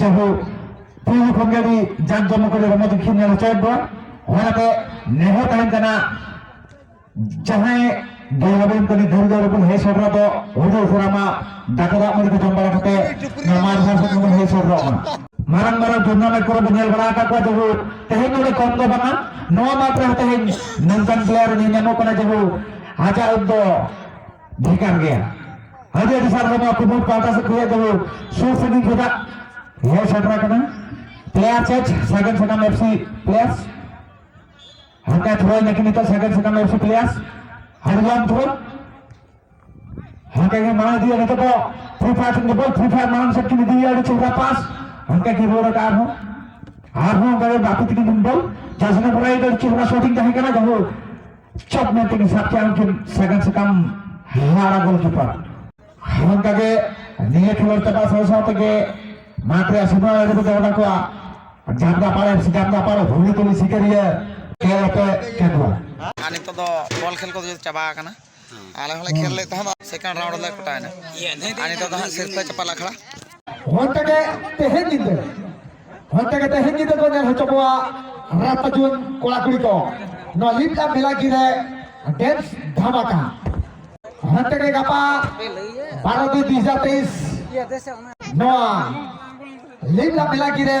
ᱡᱟᱦᱳ ᱯᱩᱭᱞᱩ ᱠᱷᱚᱱ ᱜᱮ ᱟᱹᱰᱤ ᱡᱟᱠ ᱡᱚᱢᱚᱠ ᱠᱟᱛᱮ ᱨᱚᱢᱚᱡᱽ ᱠᱷᱮᱞ ᱧᱮᱞ ᱦᱚᱪᱚᱭᱮᱫ ᱵᱚᱱ ᱚᱱᱟᱛᱮ ᱱᱮᱦᱚᱨ ᱛᱟᱦᱮᱱ ᱠᱟᱱᱟ ᱡᱟᱦᱟᱸᱭ ᱜᱮᱞᱟᱵᱮᱱ ᱠᱟᱹᱢᱤ ᱫᱷᱟᱹᱨ ᱫᱷᱟᱹᱨ ᱵᱚᱱ ᱦᱮᱡ ᱥᱮᱴᱮᱨᱚᱜ ᱫᱚ ᱦᱩᱫᱩ ᱩᱥᱟᱹᱨᱟ ᱢᱟ ᱫᱟᱠᱟ ᱫᱟᱜ ᱢᱟᱹᱰᱤ ᱠᱚ ᱡᱚᱢ ᱵᱟᱲᱟ ᱠᱟᱛᱮ ᱱᱚᱣᱟ ᱢᱟᱴ ᱫᱷᱟᱨ ᱥᱮᱫ ᱵᱚᱱ ᱦᱮᱡ ᱥᱮᱴᱮᱨᱚᱜ ᱢᱟ ᱢᱟᱨᱟᱝ ᱢᱟᱨᱟᱝ ᱴᱩᱨᱱᱟᱢᱮᱱᱴ ᱠᱚᱨᱮ ᱵᱚᱱ ᱧᱮᱞ ᱵᱟᱲᱟ ᱟᱠᱟᱫ ᱠᱚᱣᱟ ᱡᱟᱦᱳ ᱛᱮᱦᱮᱧ ᱱᱚᱰᱮ ᱠᱚᱢ ᱫᱚ ᱵᱟᱝᱟ ᱱᱚᱣᱟ ᱢᱟᱴ ᱨᱮ ᱛᱮᱦᱮᱧ ᱱᱚᱝᱠᱟᱱ ᱯᱞᱮᱭᱟᱨ ᱧᱮᱞ ᱧᱟᱢᱚᱜ ᱠᱟᱱᱟ ᱡᱟᱦᱳ ᱟᱡᱟᱜ ᱩᱵ ᱫᱚ ᱵᱷᱮᱜᱟᱨ ᱜᱮᱭᱟ ᱟᱹᱰᱤ ᱟᱹᱰᱤ ᱥᱟᱨᱦᱟᱣ ᱱᱚᱣᱟ ᱠᱩᱢᱩᱴ ᱯᱟᱦᱴᱟ ᱥᱮᱫ ᱠᱷᱚᱱᱟᱜ ᱫᱚ ᱥᱩᱨ ᱥᱟᱺᱜᱤᱧ ᱠᱷᱚᱱᱟᱜ ᱦᱮᱡ ᱥᱮᱴᱮᱨ ᱟᱠᱟᱱᱟ ᱯᱞᱮᱭᱟᱨ ᱪᱮᱪ ᱥᱟᱜᱮᱱ ᱥᱟᱱᱟᱢ ᱮᱯᱥᱤ ᱯᱞᱮᱭᱟᱨᱥ ᱦᱟᱱᱠᱟ ᱛᱷᱨᱚᱭ ᱱᱟᱠᱤ ᱱᱤᱛᱚᱜ ᱥᱟᱜᱮᱱ ᱥᱟᱱᱟᱢ ᱮᱯᱥᱤ ᱯᱞᱮᱭᱟᱨᱥ ᱦᱟᱨᱞᱟᱢ ᱛᱷᱨᱚ ᱦᱟᱱᱠᱟ ᱜᱮ ᱢᱟᱲᱟᱝ ᱤᱫᱤᱭᱟ ᱱᱤᱛᱚᱜ ᱫᱚ ᱯᱷᱨᱤ ᱯᱷᱟᱭᱟᱨ ᱥᱮᱫ ᱵᱚᱞ ᱯᱷᱨᱤ ᱯᱷᱟᱭᱟᱨ ᱢᱟᱲᱟᱝ ᱥᱮᱫ ᱠᱤᱱ ᱤᱫᱤᱭᱟ ᱟᱹᱰᱤ ᱪᱮᱦᱨᱟ ᱯᱟᱥ ᱦᱟᱱᱠᱟ ᱜᱮ ᱨᱩᱣᱟᱹᱲ ᱟᱠᱟᱫ ᱟᱨᱦᱚᱸ ᱟᱨᱦᱚᱸ ᱚᱱᱠᱟ ᱜᱮ ᱵᱟᱯᱤ ᱛᱤᱠᱤᱱ ᱵᱚᱞ ᱡᱟᱥᱱᱟ ᱯᱨᱟᱭ ᱫᱚ ᱪᱮᱦᱨᱟ ᱥᱚᱴᱤᱝ ᱛᱟᱦᱮᱸ ᱠᱟᱱᱟ ᱡᱟᱦᱳᱠ ᱪᱚᱯ ᱢᱮᱱᱛᱮ ᱜᱮ ᱥᱟᱵ ᱠᱮᱜᱼᱟ ᱩᱱᱠᱤᱱ ᱥᱟᱜᱟᱱ ᱥᱟᱠᱟᱢ ᱦᱟᱨᱟ ᱜᱳᱞᱠᱤᱯᱟᱨ ᱚᱱᱠᱟ ᱜᱮ ᱱᱤᱭᱟᱹ ᱠᱷᱮᱞᱳᱰ ᱪᱟᱵᱟᱜ ᱥᱟᱶ ᱥᱟᱶ ᱛᱮᱜᱮ ᱢᱟᱴᱷ ᱨᱮᱭᱟᱜ ᱥᱤᱢᱟᱹ ᱨᱮ ᱫᱚᱦᱚ ᱠᱟᱜ ᱠᱚᱣᱟ ᱡᱟᱢᱫᱟ ᱯᱟᱲᱮ ᱡᱟᱢᱫᱟ ᱯᱟᱲᱮ ᱦᱩᱞᱤ ᱛᱩᱞᱤ ᱥᱤᱠᱟᱹᱨᱤᱭᱟᱹ ᱠᱷᱮᱞ ᱟᱛᱮ ᱠᱮᱫᱣᱟ ᱟᱨ ᱱᱤᱛᱚᱜ ᱫᱚ ᱵᱚᱞ ᱠᱷᱮᱞ ᱠᱚᱫᱚ ᱪᱟᱵᱟ ᱟᱠᱟᱱᱟ ᱟᱞᱮ ᱦᱚᱸᱞᱮ ᱠᱷᱮᱞ ᱞᱮᱫ ᱛᱟᱦᱮᱸᱫ ᱥᱮᱠᱮᱱᱰ ᱨᱟᱣᱩᱱᱰ ᱨᱮᱞᱮ ᱠᱚᱴᱟᱭᱮᱱᱟ ᱟᱨ ᱱᱤᱛᱚᱜ ᱫᱚ ᱦᱟᱸᱜ ᱥᱤᱨᱯᱟᱹ ᱪᱟᱯᱟᱞ ᱟᱠᱷᱲᱟ ᱚᱱᱛᱮ ᱜᱮ ᱛᱮᱦᱮᱧ ᱧᱤᱫᱟᱹ ᱚᱱᱛᱮ ᱜᱮ ᱛᱮᱦᱮᱧ ᱧᱤᱫᱟᱹ ᱠᱚ ᱧᱮᱞ ᱦᱚᱪᱚ ᱠᱚᱣᱟ ᱨᱟᱛᱟ ᱡᱩᱣᱟᱹᱱ ᱠᱚᱲᱟ ᱠᱩᱲᱤ ᱠᱚ ᱱᱚᱣᱟ ᱞᱤᱯᱞᱟ ᱢᱮᱞᱟᱠᱤ ᱨᱮ ᱰᱮᱱᱥ ᱫᱷᱟᱢᱟᱠᱟ ᱚᱱᱛᱮ ᱜᱮ ᱜᱟᱯᱟ ᱵᱟᱨᱚ ᱫᱩᱭ ᱫᱩ ᱦᱟᱡᱟᱨ ᱛᱮᱭᱤᱥ ᱱᱚᱣᱟ ᱞᱤᱯᱞᱟ ᱢᱮᱞᱟᱠᱤ ᱨᱮ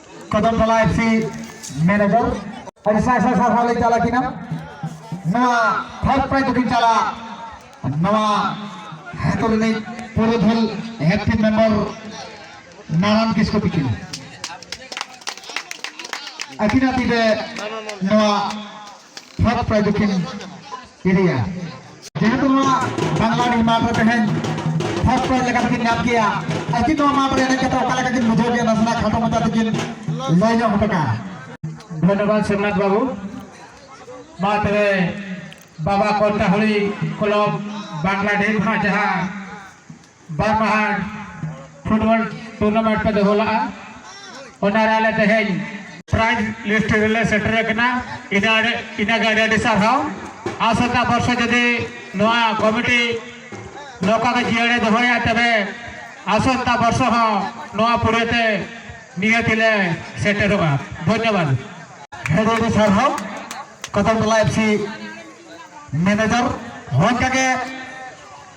ᱠᱚᱫᱚᱢᱛᱚᱞᱟ ᱮᱯᱷᱥᱤ ᱢᱮᱱᱮᱡᱚᱨ ᱟᱹᱰᱤ ᱥᱟᱭ ᱥᱟᱭ ᱥᱟᱨᱦᱟᱣ ᱞᱮ ᱪᱟᱞᱟ ᱠᱤᱱᱟ ᱱᱚᱣᱟ ᱯᱷᱟᱥᱴ ᱯᱨᱟᱭᱤᱡᱽ ᱫᱚᱠᱤᱱ ᱪᱟᱞᱟ ᱱᱚᱣᱟ ᱦᱮᱛᱚ ᱨᱤᱱᱤᱡ ᱯᱩᱨᱩᱫᱷᱩᱞ ᱦᱮᱯᱴᱤ ᱢᱮᱢᱵᱚᱨ ᱱᱟᱨᱟᱱ ᱠᱤᱥᱠᱩ ᱛᱤᱠᱤᱱ ᱟᱹᱠᱤᱱᱟᱜ ᱛᱤᱨᱮ ᱱᱚᱣᱟ ᱦᱚᱠ ᱯᱨᱟᱭᱤᱡᱽ ᱠᱤᱱ ᱤᱫᱤᱭᱟ ᱡᱮᱦᱮᱛᱩ ᱱᱚᱣᱟ ᱵᱟᱝᱞᱟ ᱨᱮ ᱢᱟᱴ ᱨᱮ ᱛᱮᱦᱮᱧ ᱦᱚᱠ ᱯᱨᱟᱭᱤᱡᱽ ᱞᱮᱠᱟ ᱛᱮᱠᱤᱱ ᱧᱟᱢ ᱠᱮᱜᱼᱟ ᱟᱹᱠᱤᱱ ᱱᱚᱣᱟ ᱢᱟᱴ ᱨᱮ ᱮᱱᱮᱡ ᱠᱟᱛᱮ ᱚᱠᱟ ᱞᱮᱠᱟ ᱠᱤᱱ ᱵᱩᱡᱷᱟᱹᱣ ᱠᱮᱜᱼᱟ ᱱᱟᱥᱮᱱᱟᱜ ᱠᱷᱟᱴᱚ ᱢᱟᱪᱷᱟ ᱛᱮᱠᱤᱱ ᱞᱟᱹᱭ ᱧᱚᱜ ᱦᱚᱴᱚ ᱠᱟᱜᱼᱟ ᱫᱷᱚᱱᱭᱚᱵᱟᱫ ᱥᱤᱵᱱᱟᱛ ᱵᱟᱵᱩ ᱢᱟ ᱛᱚᱵᱮ ᱵᱟᱵᱟ ᱠᱚᱞᱴᱟᱦᱚᱲᱤ ᱠᱞᱚᱵ ᱵᱟᱝᱞᱟᱰᱤᱦ ᱠᱷᱚᱱᱟᱜ ᱡᱟᱦᱟᱸ ᱵᱟᱨ ᱢᱟᱦᱟ ᱯᱷᱩᱴᱵᱚᱞ ᱴᱩᱨᱱᱟᱢᱮᱱᱴ ᱯᱮ ᱫᱚᱦᱚ ᱞᱟᱜᱼᱟ ᱚᱱᱟ ᱨᱮ ᱟᱞᱮ ᱛᱮᱦᱮᱧ ᱯᱨᱟᱭᱤᱡᱽ ᱞᱤᱥᱴ ᱨᱮᱞᱮ ᱥᱮᱴᱮᱨ ᱟᱠᱟᱱᱟ ᱤᱱᱟᱹ ᱤᱱᱟᱹ ᱜᱮ ᱟᱹᱰᱤ ᱟᱹᱰᱤ ᱥᱟᱨᱦᱟᱣ ᱟᱥᱚᱠᱟ ᱵᱚᱨᱥᱚ ᱡᱩᱫᱤ ᱱᱚᱣᱟ ᱠᱚᱢᱤᱴᱤ ᱱᱚᱝᱠᱟ ᱜᱮ ᱡᱤᱭᱟᱹᱲᱮ ᱫᱚᱦᱚᱭᱟ ᱛᱚᱵᱮ ᱟᱥᱚᱠᱟ ᱵᱚᱨᱥᱚ ᱦᱚᱸ ᱱᱚᱣᱟ ᱯᱩᱨᱟᱹᱛᱮ ᱱᱤᱦᱟᱹᱛ ᱞᱮ ᱥᱮᱴᱮᱨᱚᱜᱼᱟ ᱫᱷᱚᱱᱭᱚᱵᱟᱫᱽ ᱟᱹᱰᱤ ᱟᱹᱰᱤ ᱥᱟᱨᱦᱟᱣ ᱠᱚᱫᱚᱢ ᱴᱚᱞᱟ ᱮᱯᱥᱤ ᱢᱮᱱᱮᱡᱟᱨ ᱦᱚᱸ ᱚᱱᱠᱟᱜᱮ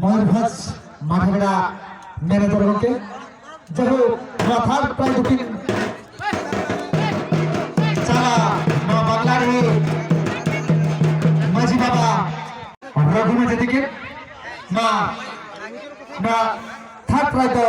ᱢᱚᱭᱩᱨᱵᱷᱚᱸᱡᱽ ᱢᱟᱰᱷᱟᱵᱮᱲᱟ ᱢᱮᱱᱮᱡᱚᱨ ᱜᱚᱢᱠᱮ ᱡᱟᱭᱦᱳᱠ ᱱᱚᱣᱟ ᱛᱷᱟᱨᱰ ᱯᱨᱟᱭᱤᱡᱽ ᱫᱚᱠᱤᱱ ᱪᱟᱞᱟ ᱱᱚᱣᱟ ᱵᱟᱝᱞᱟ ᱨᱮ ᱢᱟᱹᱡᱷᱤ ᱵᱟᱵᱟ ᱨᱚᱜᱷᱩ ᱢᱟᱹᱡᱷᱤ ᱛᱤᱠᱤᱱ ᱱᱚᱣᱟ ᱱᱚᱣᱟ ᱛᱷᱟᱨᱰ ᱯᱨᱟᱭᱤᱡᱽ ᱫᱚ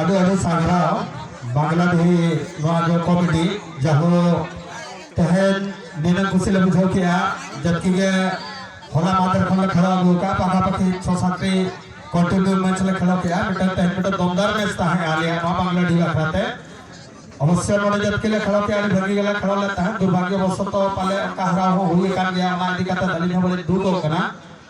ᱟᱹᱰᱤ ᱟᱹᱰᱤ ᱥᱟᱨᱦᱟᱣ ᱵᱟᱝᱞᱟᱫᱮᱦᱤ ᱱᱚᱣᱟ ᱡᱚ ᱠᱚᱢᱤᱴᱤ ᱡᱟᱦᱟᱸ ᱛᱮᱦᱮᱧ ᱱᱤᱱᱟᱹᱝ ᱠᱩᱥᱤ ᱞᱮ ᱵᱩᱡᱷᱟᱹᱣ ᱠᱮᱜᱼᱟ ᱡᱟᱹᱛᱤ ᱜᱮ ᱦᱚᱞᱟ ᱢᱟᱫᱷᱮᱨ ᱠᱷᱚᱱ ᱞᱮ ᱠᱷᱮᱞᱟᱣ ᱟᱹᱜᱩ ᱠᱟᱜᱼᱟ ᱯᱟᱠᱟ ᱯᱟᱠᱤ ᱪᱷᱚ ᱥᱟᱛᱴᱤ ᱠᱚᱱᱴᱤᱱᱤᱭᱩ ᱢᱮᱪ ᱞᱮ ᱠᱷᱮᱞᱟᱣ ᱠᱮᱜᱼᱟ ᱢᱤᱫᱴᱟᱝ ᱛᱮᱦᱮᱧ ᱢᱤᱫᱴᱟᱝ ᱫᱚᱢᱫᱟᱨ ᱢᱮᱪ ᱛᱟᱦᱮᱸ ᱟᱞᱮᱭᱟᱜ ᱱᱚᱣᱟ ᱵᱟᱝᱞᱟᱰᱤ ᱵᱟᱠᱷᱨᱟ ᱛᱮ ᱚᱵᱚᱥᱥᱳᱭ ᱱᱚᱰᱮ ᱡᱟᱹᱛᱤ ᱞᱮ ᱠᱷᱮᱞᱟᱣ ᱠᱮᱜᱼᱟ ᱟᱹᱰᱤ ᱵᱷᱟᱹᱜᱤ ᱜᱮᱞᱮ ᱠᱷᱮᱞᱟᱣ ᱞᱮᱫ ᱛᱟᱦᱮᱸᱫ ᱫᱩᱨᱵᱷᱟᱜᱽᱭᱚ ᱵᱚᱥᱚᱛᱚ ᱯᱟᱞᱮ ᱚᱱᱠᱟ ᱦᱟᱨᱟᱣ ᱦᱚᱸ ᱦᱩᱭ ᱟᱠᱟᱱ ᱜᱮᱭᱟ ᱚᱱᱟ ᱤᱫᱤ ᱠᱟᱛᱮ ᱟᱹᱞᱤᱧ ᱦᱚᱸ ᱵᱟᱹᱞᱤᱧ ᱫᱩᱠᱚᱜ ᱠᱟᱱᱟ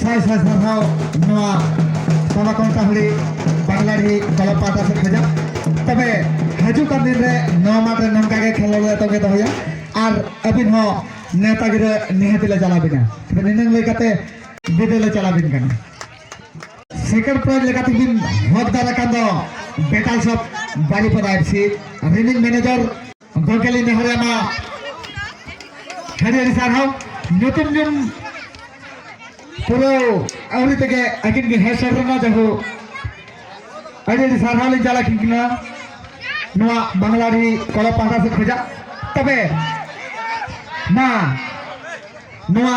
ᱥᱟᱭ ᱥᱟᱭ ᱥᱟᱨᱦᱟᱣ ᱱᱚᱣᱟ ᱛᱟᱞᱟ ᱠᱚᱱᱴᱟ ᱦᱟᱹᱲᱤ ᱵᱟᱝᱞᱟᱰᱤ ᱠᱚᱞᱚᱢ ᱯᱟᱦᱴᱟ ᱥᱮᱫ ᱠᱷᱚᱡᱟᱜ ᱛᱚᱵᱮ ᱦᱤᱡᱩᱜ ᱠᱟᱱ ᱫᱤᱱ ᱨᱮ ᱱᱚᱣᱟ ᱢᱟᱴᱷ ᱨᱮ ᱱᱚᱝᱠᱟ ᱜᱮ ᱠᱷᱮᱞᱳᱰ ᱞᱮ ᱛᱚᱜᱮ ᱫᱚᱦᱚᱭᱟ ᱟᱨ ᱟᱹᱵᱤᱱ ᱦᱚᱸ ᱱᱮᱣᱛᱟ ᱜᱤᱨᱟᱹ ᱱᱤᱦᱟᱹᱛ ᱞᱮ ᱪᱟᱞᱟᱣ ᱵᱤᱱᱟ ᱛᱚᱵᱮ ᱱᱤᱱᱟᱹᱝ ᱞᱟᱹᱭ ᱠᱟᱛᱮ ᱵᱤᱫᱟᱹ ᱞᱮ ᱪᱟᱞᱟᱣ ᱵᱤᱱ ᱠᱟᱱᱟ ᱥᱮᱠᱮᱱᱰ ᱯᱨᱟᱭᱤᱡᱽ ᱞᱮᱠᱟᱛᱮ ᱵᱤᱱ ᱦᱚᱠᱫᱟᱨ ᱟᱠᱟᱱ ᱫᱚ ᱵᱮᱴᱟᱞ ᱥᱚᱯ ᱵᱟᱨᱤᱯᱟᱫᱟ ᱮᱯᱥᱤ ᱨᱤᱱᱤᱡ ᱢᱮᱱᱮᱡᱚᱨ ᱜᱚᱢᱠᱮ ᱞᱤᱧ ᱱᱮᱦᱚᱨᱮ ᱢᱟ ᱟᱹᱰᱤ ᱟᱹᱰᱤ ᱥᱟᱨᱦᱟᱣ ᱧᱩᱛᱩᱢ ᱧᱩᱢ ᱯᱩᱨᱟᱹ ᱟᱹᱣᱨᱤ ᱛᱮᱜᱮ ᱟᱹᱠᱤᱱ ᱜᱮ ᱦᱮᱡ ᱥᱮᱴᱮᱨ ᱮᱱᱟ ᱡᱟᱦᱳ ᱟᱹᱰᱤ ᱟᱹᱰᱤ ᱥᱟᱨᱦᱟᱣ ᱞᱤᱧ ᱪᱟᱞᱟᱜ ᱠᱤᱱᱟ ᱱᱚᱣᱟ ᱵᱟᱝᱞᱟᱨᱤ ᱠᱚᱲᱟ ᱯᱟᱦᱴᱟ ᱥᱮᱫ ᱠᱷᱚᱡᱟᱜ ᱛᱚᱵᱮ ᱢᱟ ᱱᱚᱣᱟ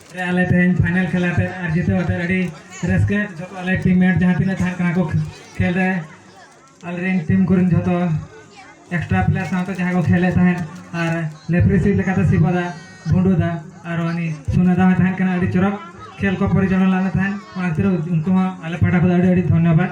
ᱟᱞᱮ ᱛᱮᱦᱮᱧ ᱯᱷᱟᱭᱱᱟᱞ ᱠᱷᱮᱞ ᱟᱛᱮ ᱟᱨ ᱡᱤᱛᱟᱹᱣ ᱟᱛᱮ ᱟᱹᱰᱤ ᱨᱟᱹᱥᱠᱟᱹ ᱡᱚᱛᱚ ᱟᱞᱮ ᱴᱤᱢ ᱢᱮᱴ ᱡᱟᱦᱟᱸ ᱛᱤᱱᱟᱹᱜ ᱛᱟᱦᱮᱸ ᱠᱟᱱᱟ ᱠᱚ ᱠᱷᱮᱞ ᱨᱮ ᱟᱞᱮ ᱨᱮᱱ ᱴᱤᱢ ᱠᱚᱨᱮᱱ ᱡᱚᱛᱚ ᱮᱠᱥᱴᱨᱟ ᱯᱞᱮᱭᱟᱨ ᱥᱟᱶᱛᱮ ᱡᱟᱦᱟᱸ ᱠᱚ ᱠᱷᱮᱞᱮᱫ ᱛᱟᱦᱮᱸᱫ ᱟᱨ ᱞᱮᱯᱷᱨᱤ ᱥᱤᱴ ᱞᱮᱠᱟᱛᱮ ᱥᱤᱵᱚᱫᱟ ᱵᱷᱩᱸᱰᱩᱫᱟ ᱟᱨ ᱩᱱᱤ ᱥᱩᱱᱟᱫᱟ ᱦᱚᱸ ᱛᱟᱦᱮᱸ ᱠᱟᱱᱟ ᱟᱹᱰᱤ ᱪᱚᱨᱚᱠ ᱠᱷᱮᱞ ᱠᱚ ᱯᱚᱨᱤᱪᱟᱞᱚᱱᱟ ᱞᱮᱫ ᱛᱟᱦᱮᱸᱫ ᱚᱱᱟ ᱠᱷᱟᱹᱛᱤᱨ ᱩᱱᱠᱩ ᱦᱚᱸ ᱟᱞᱮ ᱯᱟᱦᱴᱟ ᱠᱷᱚᱱ ᱟᱹᱰᱤ ᱟᱹᱰᱤ ᱫᱷᱚᱱᱭᱚᱵᱟᱫᱽ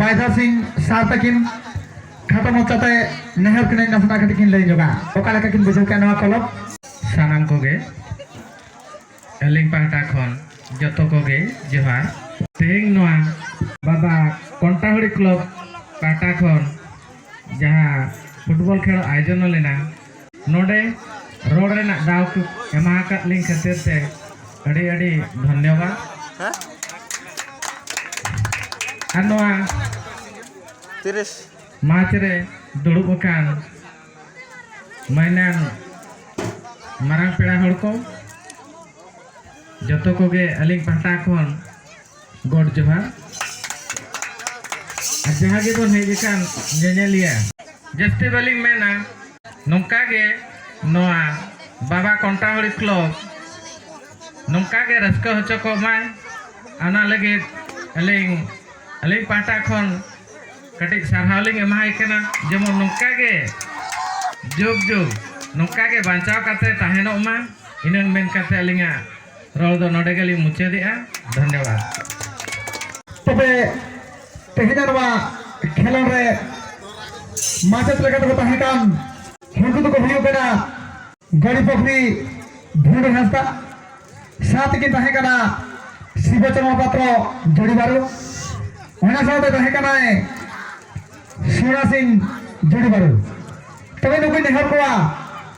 ᱵᱟᱭᱡᱟ ᱥᱤᱝ ᱥᱟᱨ ᱛᱟᱹᱠᱤᱱ ᱠᱷᱟᱴᱚ ᱢᱚᱪᱟᱛᱮ ᱱᱮᱦᱚᱨ ᱠᱤᱱ ᱱᱟᱥᱮᱱᱟᱜ ᱠᱟᱹᱴᱤᱡ ᱠᱤᱱ ᱞᱟᱹᱭ ᱧᱚᱜᱟ ᱚᱠᱟ ᱞᱮᱠᱟ ᱠᱤᱱ ᱵᱩᱡᱷᱟᱹᱣ ᱠᱮᱫ ᱱᱚᱣᱟ ᱠᱚᱞᱚᱵ ᱥᱟᱱᱟᱢ ᱠᱚᱜᱮ ᱟᱹᱞᱤᱧ ᱯᱟᱦᱴᱟ ᱠᱷᱚᱱ ᱡᱚᱛᱚ ᱠᱚᱜᱮ ᱡᱚᱦᱟᱨ ᱛᱮᱦᱮᱧ ᱱᱚᱣᱟ ᱵᱟᱵᱟ ᱠᱚᱱᱴᱟᱦᱩᱲᱤ ᱠᱞᱚᱵ ᱯᱟᱦᱴᱟ ᱠᱷᱚᱱ ᱡᱟᱦᱟᱸ ᱯᱷᱩᱴᱵᱚᱞ ᱠᱷᱮᱞ ᱟᱭᱳᱡᱚᱱ ᱞᱮᱱᱟ ᱱᱚᱰᱮ ᱨᱚᱲ ᱨᱮᱱᱟᱜ ᱫᱟᱣ ᱠᱚ ᱮᱢᱟ ᱟᱠᱟᱫ ᱞᱤᱧ ᱠᱷᱟᱹᱛᱤᱨ ᱛᱮ ᱟᱹᱰᱤ ᱟᱹᱰᱤ ᱫᱷᱚᱱᱭᱚᱵᱟᱫ ᱟᱨ ᱱᱚᱣᱟ ᱛᱤᱨᱤᱥ ᱢᱟᱨᱪ ᱨᱮ ᱫᱩᱲᱩᱵ ᱟᱠᱟᱱ ᱢᱟᱹᱭᱱᱟᱱ ᱢᱟᱨᱟᱝ ᱯᱮᱲᱟ ᱦᱚᱲ ᱠᱚ ᱡᱚᱛᱚ ᱠᱚᱜᱮ ᱟᱹᱞᱤᱧ ᱯᱟᱦᱴᱟ ᱠᱷᱚᱱ ᱜᱚᱰ ᱡᱚᱦᱟᱨ ᱟᱨ ᱡᱟᱦᱟᱸ ᱜᱮᱵᱚᱱ ᱦᱮᱡ ᱟᱠᱟᱱ ᱧᱮᱧᱮᱞᱤᱭᱟᱹ ᱡᱟᱹᱥᱛᱤ ᱵᱟᱹᱞᱤᱧ ᱢᱮᱱᱟ ᱱᱚᱝᱠᱟ ᱜᱮ ᱱᱚᱣᱟ ᱵᱟᱵᱟ ᱠᱚᱱᱴᱟᱦᱚᱲᱤ ᱠᱞᱚᱵ ᱱᱚᱝᱠᱟ ᱜᱮ ᱨᱟᱹᱥᱠᱟᱹ ᱦᱚᱪᱚ ᱠᱚᱜ ᱢᱟᱭ ᱚᱱᱟ ᱞᱟᱹᱜᱤᱫ ᱟᱹᱞᱤᱧ ᱟᱹᱞᱤᱧ ᱯᱟᱦᱴᱟ ᱠᱷᱚᱱ ᱠᱟᱹᱴᱤᱡ ᱥᱟᱨᱦᱟᱣ ᱞᱤᱧ ᱮᱢᱟᱭ ᱠᱟᱱᱟ ᱡᱮᱢᱚᱱ ᱱᱚᱝᱠᱟ ᱜᱮ ᱡᱩᱜᱽ ᱡᱩᱜᱽ ᱱᱚᱝᱠᱟ ᱜᱮ ᱵᱟᱧᱪᱟᱣ ᱠᱟᱛᱮ ᱛᱟᱦᱮᱱᱚᱜ ᱢᱟ ᱤᱱᱟᱹ ᱢᱮᱱ ᱠᱟᱛᱮ ᱟᱹᱞᱤᱧᱟᱜ ᱨᱚᱲ ᱫᱚ ᱱᱚᱰᱮ ᱜᱮᱞᱤᱧ ᱢᱩᱪᱟᱹᱫᱮᱜᱼᱟ ᱫᱷᱚᱱᱭᱚᱵᱟᱫᱽ ᱛᱚᱵᱮ ᱛᱮᱦᱮᱧ ᱱᱚᱣᱟ ᱠᱷᱮᱞᱳᱰ ᱨᱮ ᱢᱟᱪᱮᱫ ᱞᱮᱠᱟ ᱛᱮᱠᱚ ᱛᱟᱦᱮᱸ ᱠᱟᱱ ᱩᱱᱠᱩ ᱫᱚᱠᱚ ᱦᱩᱭᱩᱜ ᱠᱟᱱᱟ ᱜᱟᱹᱲᱤ ᱯᱩᱠᱷᱨᱤ ᱵᱷᱩᱰᱩ ᱦᱟᱸᱥᱫᱟ ᱥᱟᱶᱛᱮ ᱠᱤᱱ ᱛᱟᱦᱮᱸ ᱠᱟᱱᱟ ᱥᱤᱵᱚ ᱪᱚᱨᱢᱟ ᱯᱟᱛᱨᱚ ᱡᱚᱲᱤ ᱵᱟᱨᱩ ᱚᱱᱟ ᱥᱟᱶᱛᱮ ᱛᱟᱦᱮᱸ ᱠᱟᱱᱟᱭ ᱥᱚᱱᱟ ᱥᱤᱝ ᱡᱚᱲᱤ ᱵᱟᱨᱩ ᱛᱚᱵᱮ ᱱᱩᱠᱩ ᱱᱮᱦᱚᱨ ᱠᱚᱣᱟ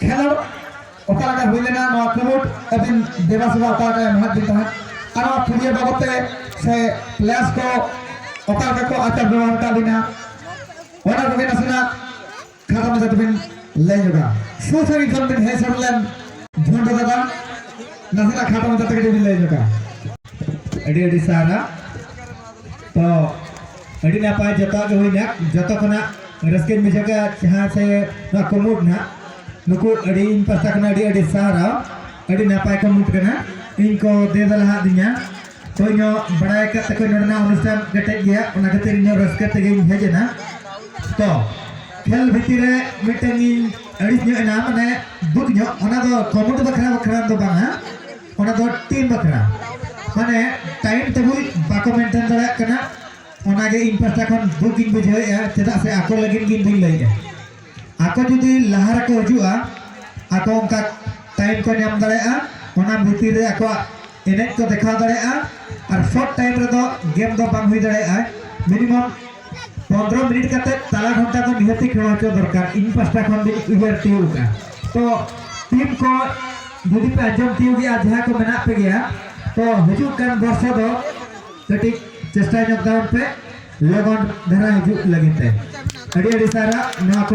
ᱠᱷᱮᱞᱳᱰ ᱚᱠᱟ ᱞᱮᱠᱟ ᱦᱩᱭ ᱞᱮᱱᱟ ᱱᱚᱣᱟ ᱠᱷᱮᱞᱳᱰ ᱟᱹᱵᱤᱱ ᱫᱮᱵᱟ ᱥᱮᱵᱟ ᱚᱠᱟ ᱞᱮᱠᱟ ᱮᱢᱟᱫ ᱵᱤᱱ ᱛᱟᱦᱮᱸᱫ ᱟᱨ ᱱᱚᱣᱟ ᱯᱷᱩᱴᱵᱚᱞ ᱵᱟᱵᱚᱫ ᱛᱮ ᱥᱮ ᱯᱞᱮᱭᱟᱨᱥ ᱠᱚ ᱚᱠᱟ ᱞᱮᱠᱟ ᱠᱚ ᱟᱪᱟᱨ ᱵᱮᱵᱚᱦᱟᱨ ᱟᱠᱟᱫ ᱵᱤᱱᱟ ᱚᱱᱟ ᱠᱚᱜᱮ ᱱᱟᱥᱮᱱᱟᱜ ᱠᱷᱟᱴᱚ ᱢᱟᱪᱷᱟ ᱛᱮᱵᱤᱱ ᱞᱟᱹᱭ ᱧᱚᱜᱟ ᱥᱩᱨ ᱥᱟᱺᱜᱤᱧ ᱠᱷᱚᱱ ᱵᱤᱱ ᱦᱮᱡ ᱥᱮᱴᱮᱨ ᱞᱮᱱ ᱡᱷᱩᱱᱰᱩ ᱫᱟᱫᱟ ᱱᱟᱥᱮᱱᱟᱜ ᱠᱷᱟᱴᱚ ᱢᱟᱪᱷᱟ ᱛᱮ ᱠᱟᱹᱴᱤᱡ ᱵᱤᱱ ᱞᱟᱹᱭ ᱧᱚᱜᱟ ᱟᱹᱰᱤ ᱟᱹᱰᱤ ᱥᱟᱨᱦᱟᱣ ᱛᱚ ᱟᱹᱰᱤ ᱱᱟᱯᱟᱭ ᱡᱚᱛᱚ ᱜᱮ ᱦᱩᱭᱱᱟ ᱡᱚᱛᱚ ᱠᱷᱚᱱᱟᱜ ᱨᱟᱹᱥᱠᱟᱹ ᱵᱩᱡᱷᱟᱹᱣ ᱠᱮᱫᱟ ᱡᱟᱦᱟᱸ ᱥᱮ ᱱᱚᱣᱟ ᱠᱩᱢᱩᱴ ᱱᱟᱜ ᱱᱩᱠᱩ ᱟᱹᱰᱤ ᱤᱧ ᱯᱟᱥᱴᱟ ᱠᱷᱚᱱ ᱟᱹᱰᱤ ᱟᱹᱰᱤ ᱥᱟᱨᱦᱟᱣ ᱟᱹᱰᱤ ᱱᱟᱯᱟᱭ ᱠᱩᱢᱩᱴ ᱠᱟᱱᱟ ᱤᱧ ᱠᱚ ᱫᱮ ᱫᱟᱞᱟᱦᱟ ᱫᱤᱧᱟ ᱛᱚ ᱤᱧ ᱵᱟᱲᱟᱭ ᱠᱟᱜ ᱛᱟᱠᱚ ᱱᱚᱰᱮᱱᱟᱜ ᱚᱱᱩᱥᱴᱷᱟᱱ ᱠᱮᱴᱮᱡ ᱜᱮᱭᱟ ᱚᱱᱟ ᱠᱷᱟᱹᱛᱤᱨ ᱤᱧ ᱨᱟᱹᱥᱠᱟᱹ ᱛᱮᱜᱮᱧ ᱦᱮᱡ ᱮᱱᱟ ᱛᱚ ᱠᱷᱮᱞ ᱵᱷᱤᱛᱤᱨ ᱨᱮ ᱢᱤᱫᱴᱟᱝ ᱤᱧ ᱟᱹᱲᱤᱥ ᱧᱚᱜ ᱮᱱᱟ ᱢᱟᱱᱮ ᱫᱩᱠ ᱧᱚᱜ ᱚᱱᱟ ᱫᱚ ᱠᱩᱢᱩᱴ ᱵᱟᱠᱷᱨᱟ ᱵᱟᱠᱷᱨᱟ ᱫᱚ ᱵᱟᱝᱟ ᱚᱱᱟ ᱫᱚ ᱴᱤᱢ ᱵᱟᱠᱷᱨᱟ ᱢᱟᱱᱮ ᱴᱟᱭᱤᱢ ᱴᱮᱵᱩᱞ ᱵᱟᱠᱚ ᱢᱮᱱᱴᱮᱱ ᱫᱟᱲᱮᱭᱟᱜ ᱠᱟᱱᱟ ᱚᱱᱟᱜᱮ ᱤᱧ ᱯᱟᱥᱴᱟ ᱠᱷᱚᱱ ᱫᱩᱠ ᱤᱧ ᱵᱩᱡᱷᱟᱹᱣᱮᱫᱼᱟ ᱪᱮᱫᱟᱜ ᱥᱮ ᱟᱠᱚ ᱞᱟᱹᱜᱤᱫ ᱜᱮ ᱵᱟᱹᱧ ᱞᱟᱹᱭᱮᱫᱼᱟ ᱟᱠᱚ ᱡᱩᱫᱤ ᱞᱟᱦᱟ ᱨᱮᱠᱚ ᱦᱤᱡᱩᱜᱼᱟ ᱟᱠᱚ ᱚᱱᱠᱟ ᱴᱟᱭᱤᱢ ᱠᱚ ᱧᱟᱢ ᱫᱟᱲᱮᱭᱟᱜᱼᱟ ᱚᱱᱟ ᱵᱷᱤᱛᱤᱨ ᱨᱮ ᱟᱠᱚᱣᱟᱜ ᱮᱱᱮᱡ ᱠᱚ ᱫᱮᱠᱷᱟᱣ ᱫᱟᱲᱮᱭᱟᱜᱼᱟ ᱟᱨ ᱥᱚᱨᱴ ᱴᱟᱭᱤᱢ ᱨᱮᱫᱚ ᱜᱮᱢ ᱫᱚ ᱵᱟᱝ ᱦᱩᱭ ᱫᱟᱲᱮᱭᱟᱜᱼᱟ ᱢᱤᱱᱤᱢᱟᱢ ᱯᱚᱱᱨᱚ ᱢᱤᱱᱤᱴ ᱠᱟᱛᱮ ᱛᱟᱞᱟ ᱜᱷᱚᱱᱴᱟ ᱫᱚ ᱱᱤᱦᱟᱹᱛᱤ ᱠᱷᱮᱞ ᱦᱚᱪᱚ ᱫᱚᱨᱠᱟᱨ ᱤᱧ ᱯᱟᱥᱴᱟ ᱠᱷᱚᱱ ᱫᱚᱧ ᱩᱭᱦᱟᱹᱨ ᱛᱤᱭᱳᱜ ᱠᱟᱜᱼᱟ ᱛᱚ ᱴᱤᱢ ᱠᱚ ᱡᱩᱫᱤ ᱯᱮ ᱟᱸᱡᱚᱢ ᱛᱤᱭᱳᱜ ᱜᱮᱭᱟ ᱡᱟᱦᱟᱸ ᱠᱚ ᱢᱮᱱᱟᱜ ᱯᱮ ᱜᱮᱭᱟ ᱛᱚ ᱦᱤᱡᱩᱜ ᱠᱟᱱ ᱵᱚᱨᱥᱟ ᱫᱚ ᱠᱟᱹᱴᱤᱡ ᱪᱮᱥᱴᱟ ᱧᱚᱜ ᱛᱟᱵᱚᱱ ᱯᱮ ᱞᱚᱜᱚᱱ ᱫᱷᱟᱨᱟ ᱦᱤᱡᱩᱜ ᱞᱟᱹᱜᱤᱫ ᱛᱮ ᱟᱹᱰᱤ ᱟᱹᱰᱤ ᱥᱟᱨᱦᱟᱣ ᱱᱚᱣᱟ ᱠᱚ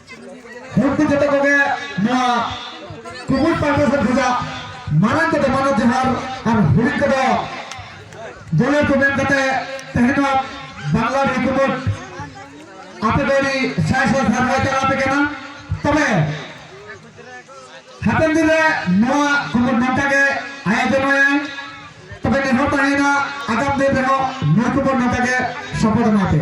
ᱢᱩᱠᱛᱤ ᱡᱚᱛᱚ ᱠᱚᱜᱮ ᱱᱚᱣᱟ ᱠᱩᱢᱩᱴ ᱯᱟᱦᱴᱟ ᱥᱮᱫ ᱠᱷᱚᱱᱟᱜ ᱢᱟᱨᱟᱝ ᱠᱚᱫᱚ ᱢᱟᱱᱚᱛ ᱡᱚᱦᱟᱨ ᱟᱨ ᱦᱩᱰᱤᱧ ᱠᱚᱫᱚ ᱡᱚᱞᱮ ᱠᱚ ᱢᱮᱱ ᱠᱟᱛᱮ ᱛᱮᱦᱮᱧ ᱱᱚᱣᱟ ᱵᱟᱝᱞᱟ ᱨᱮ ᱠᱩᱢᱩᱴ ᱟᱯᱮ ᱫᱚ ᱟᱹᱰᱤ ᱥᱟᱭ ᱥᱟᱭ ᱥᱟᱨᱦᱟᱣ ᱪᱟᱞᱟᱣ ᱟᱯᱮ ᱠᱟᱱᱟ ᱛᱚᱵᱮ ᱦᱟᱯᱮᱱ ᱫᱤᱱ ᱨᱮ ᱱᱚᱣᱟ ᱠᱩᱢᱩᱴ ᱱᱚᱝᱠᱟ ᱜᱮ ᱟᱭᱳᱡᱚᱱᱟᱭᱟ ᱛᱚᱵᱮ ᱱᱮᱦᱚᱨ ᱛᱟᱦᱮᱱᱟ ᱟᱜᱟᱢ ᱫᱤᱱ ᱨᱮᱦᱚᱸ ᱱᱚᱣᱟ ᱠᱩᱢᱩᱴ ᱱᱚᱝᱠᱟ ᱜᱮ ᱥᱚᱯᱚᱫ ᱮᱢᱟ ᱯᱮ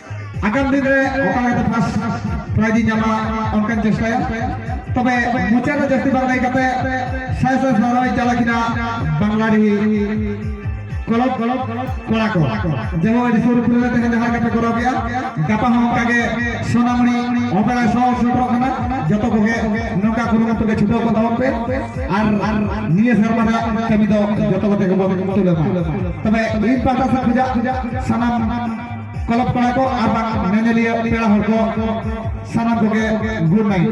ᱟᱜᱟᱢ ᱫᱤᱱ ᱨᱮ ᱚᱠᱟ ᱞᱮᱠᱟᱛᱮ ᱯᱷᱟᱥᱴ ᱯᱨᱟᱭᱤᱡᱽ ᱤᱧ ᱧᱟᱢᱟ ᱚᱱᱠᱟᱧ ᱪᱮᱥᱴᱟᱭᱟ ᱛᱚᱵᱮ ᱢᱩᱪᱟᱹᱫ ᱨᱮ ᱡᱟᱹᱥᱛᱤ ᱵᱟᱝ ᱞᱟᱹᱭ ᱠᱟᱛᱮ ᱥᱟᱭ ᱥᱟᱭ ᱥᱟᱨᱦᱟᱣ ᱤᱧ ᱪᱟᱞᱟᱜ ᱠᱤᱱᱟ ᱵᱟᱝᱞᱟᱰᱤ ᱠᱚᱞᱚᱵ ᱠᱚᱞᱚᱵ ᱠᱚᱲᱟ ᱠᱚ ᱡᱮᱢᱚᱱ ᱟᱹᱰᱤ ᱥᱩᱨ ᱠᱚᱨᱮ ᱛᱮᱦᱮᱧ ᱡᱟᱦᱟᱸ ᱞᱮᱠᱟ ᱯᱮ ᱠᱚᱨᱟᱣ ᱠᱮᱜᱼᱟ ᱜᱟᱯᱟ ᱦᱚᱸ ᱚᱱᱠᱟ ᱜᱮ ᱥᱚᱱᱟᱢᱩᱱᱤ ᱚᱯᱮᱨᱟ ᱥᱚ ᱥᱮᱴᱮᱨᱚᱜ ᱠᱟᱱᱟ ᱡᱚᱛᱚ ᱠᱚᱜᱮ ᱱᱚᱝᱠᱟ ᱠᱩᱨᱩᱢᱩᱴᱩ ᱜᱮ ᱪᱷᱩᱴᱟᱹᱣ ᱠᱚ ᱛᱟᱵᱚᱱ ᱯᱮ ᱟᱨ ᱱᱤᱭᱟᱹ ᱥᱮᱨᱢᱟ ᱨᱮᱭᱟᱜ ᱠᱟᱹᱢᱤ ᱫᱚ ᱡᱚᱛᱚ ᱠᱚᱛᱮ ᱜᱮᱵᱚᱱ ᱛᱩᱞᱟᱹᱣ ᱢᱟ ᱛᱚᱵᱮ ᱤᱧ ᱯᱟᱦᱴᱟ ᱥᱮᱫ ᱠᱷᱚᱱᱟᱜ ᱥᱟᱱᱟᱢ ᱠᱞᱟᱵᱽ ᱠᱚᱲᱟ ᱠᱚ ᱟᱨ ᱵᱟᱝ ᱧᱮᱧᱮᱞᱤᱭᱟᱹ ᱯᱮᱲᱟ ᱦᱚᱲ ᱠᱚ ᱥᱟᱱᱟᱢ ᱠᱚᱜᱮ ᱜᱩᱰ ᱱᱟᱭᱤᱴ